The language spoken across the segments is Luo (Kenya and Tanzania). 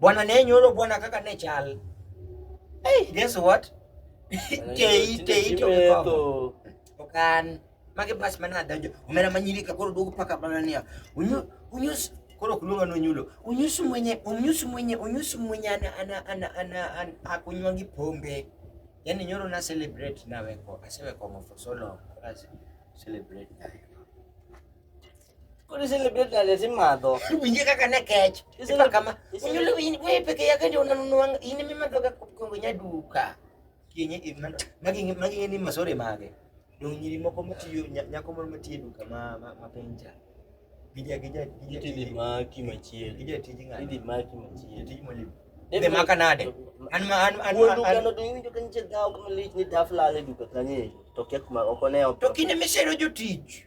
Bwana ne nyoro bwana kaka ne chal. Hey, guess what? Tei tei to ko. Okan mage bas mana donjo. Omera manyiri ka koro duogo paka bana niya. Unyu unyus koro kuluga no nyulo. Unyus mwenye unyus mwenye unyus mwenye ana ana ana ana, ana akunywangi pombe. Yani nyoro na celebrate na weko. Asewe kwa for so long. Celebrate na weko. Kuni celebrate na lazima adho. Winje kaka ne kech. Isema kama. Unyule winje wewe peke yake ndio unanunua ini mimi natoka kwenye duka. Kienye magi magi ni masore mage. Ndio nyiri moko mtiyo nyako moro mtiyo duka ma mapenja. Gija gija gija. Tidi maki machie. Gija tiji ngani. Tidi maki machie. Tiji mwalimu. Dede maka nade. An ma an an. Wudu kano do yinjo kan che dawo kuma lich ni dafla le duka kanye. Tokia kuma okone. Tokine mesero jotich.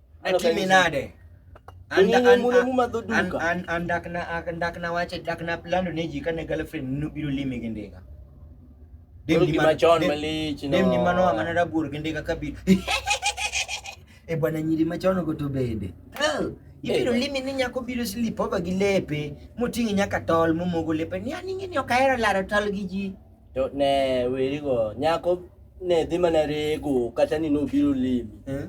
Atimi nade? Andak na wache dak na plando ne ji kane girlfriend nobiro lime gi ndiga. Dem ni machon malich no. Dem ni mano amana rabuor gi ndiga kabiro. E bwana nyiri machon go to bende. Ibiro limi ni nyako biro slip over gi lepe moting'i nyaka tol momogo lepe ni aning'e ni ok ahero laro tol gi ji. To ne werigo, nyako ne dhi mana rego kata ni nobiro limi. Eh?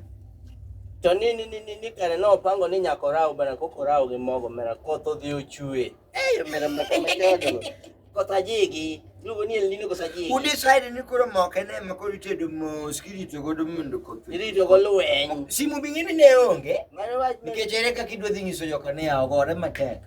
To ni ni ni ni, ni kare nopango ni nyako raw bana koko raw gi mogo mera koth odhi ochue. Eh, mera moko machodo. Koth ajigi. Lugo ni elini koth ajigi. Udecide ni koro moke ne ma koro itedo mos kirito godo mondo koth. Irito go lweny. Simu bing'ini ne onge Mano wach nikech ere kaka idwa dhi nyiso joka ni aogore matek.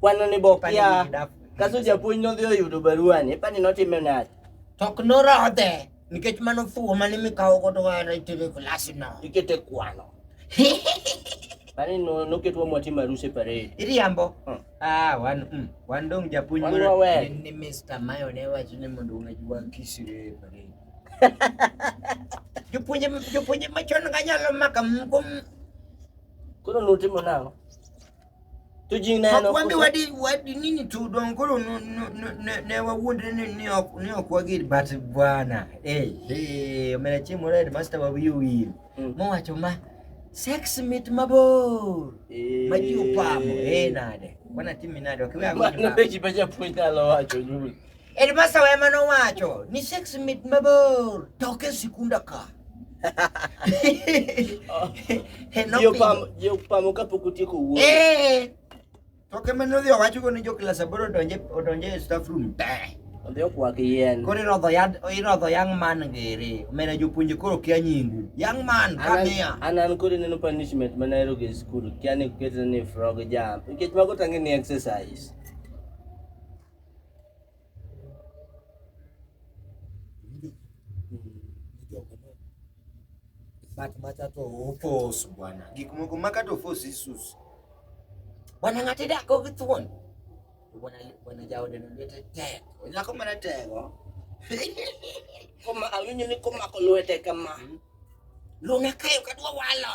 Kwano ni bok ya. Kaso japuonj nodhi oyudo barua ni, ipani notime nade? Tok norodhe nikech mano fuwo mane mikawo godo wara itere klasi no. Ikete kwano. Bani no noketwa mwatimo aruse parade. Iriambo. Hmm. Ah, wan mm, wan dong japuonj moro ni Mr. Mayo ne wacho ni mondo unajua kisire parade. Jopuonje jopuonje machon ga nyalo maka mko. Koro nutimo nang'o? to ji neno ok wambi wadi wadi nini tu don koro no no ne ne wa wondre ni ni ok ni ok wagir but bwana eh eh mera chimo red master wa wiu wil mm. mo wacho ma sex mit mabor eh. ma ji upamo eh nade wana timi nade ok wa ngi ma ji baja puonja lo wacho juu Headmaster ema nowacho ni sex mit mabor toke sikunda ka. Jopamo kapok otieko wuoyo. Eh. Toke mane odhi owacho go ni jo klas aboro odonje odonje e staff room te. Odhi okwak yien. Koro irodho yad irodho young man ngere. Omera jopuonje koro kia nyingu. Young man kamia. An an koro neno punishment mane ayudo e skul. Kia ni ketna ni frog jump. Nikech mago tangi ni exercise. but matato ofos bwana gik moko makato ofos isus bwana ng'ate dako gi thuon bwana bwana jaode no lwete tek nyako mana tego koma awinjo ni komako lwete kama hmm? luna kayo kadwa walo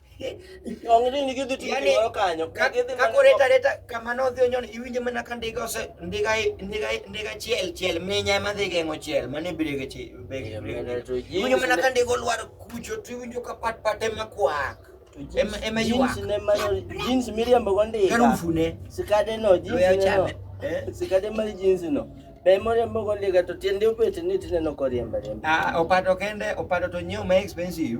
Onge ni gidhi tiyo Yaani, gimoro kanyo. Ka Gidhi ka mana- koreta reta kamano odhi onyon iwinjo mana ka ndiga ose ndiga ndiga ndiga chiel chiel minya ema dhi geng'o chiel mano e brege chi brege Yeah, brege. man, to jinsi Iwinjo mana ne- ka ndiga olwar kucho to iwinjo ka pat pat ema kwak. to jeans- Ema ema jeans ywak. ne manyo- jeans miriambo go ndiga. Harufu ne. Sikade no, jeans Loya ne no. chame. Eh? Sikade mar jeans no. Be moriambo go ndiga to tiende obet ni tineno koriemba riemba. Ah, opato kende opato to nyiew ma expensive.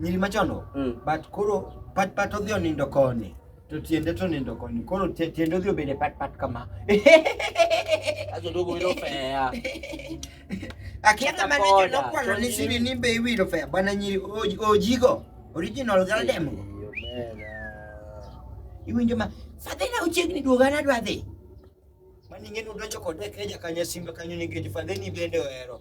nyiri machono mm. but koro pat pat odhi onindo koni to tiende to nindo koni koro tiende odhi obede pat pat kama ajodogo wilo fea akiata mane jonokwalo ni sini ni be iwilo fea bwana nyiri ojigo original galdem go iwinjo ma fadhina uchiegni duoga nadwa dhi maning'eni udonjo kode keja kanyo simbe kanyo nikech fadhini bende ohero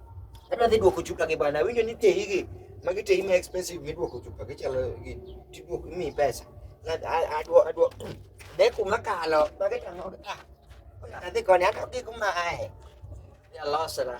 Adwa dhi duoko chupa gi bwana, winjo ni tehi gi magi tehi ma expensive miduoko chupa gi chalo gi tiduoko mi pesa. Adwa adwa de kuma kalo magi tamo ah. Adhi koni ato gi kuma ae. Ya losra.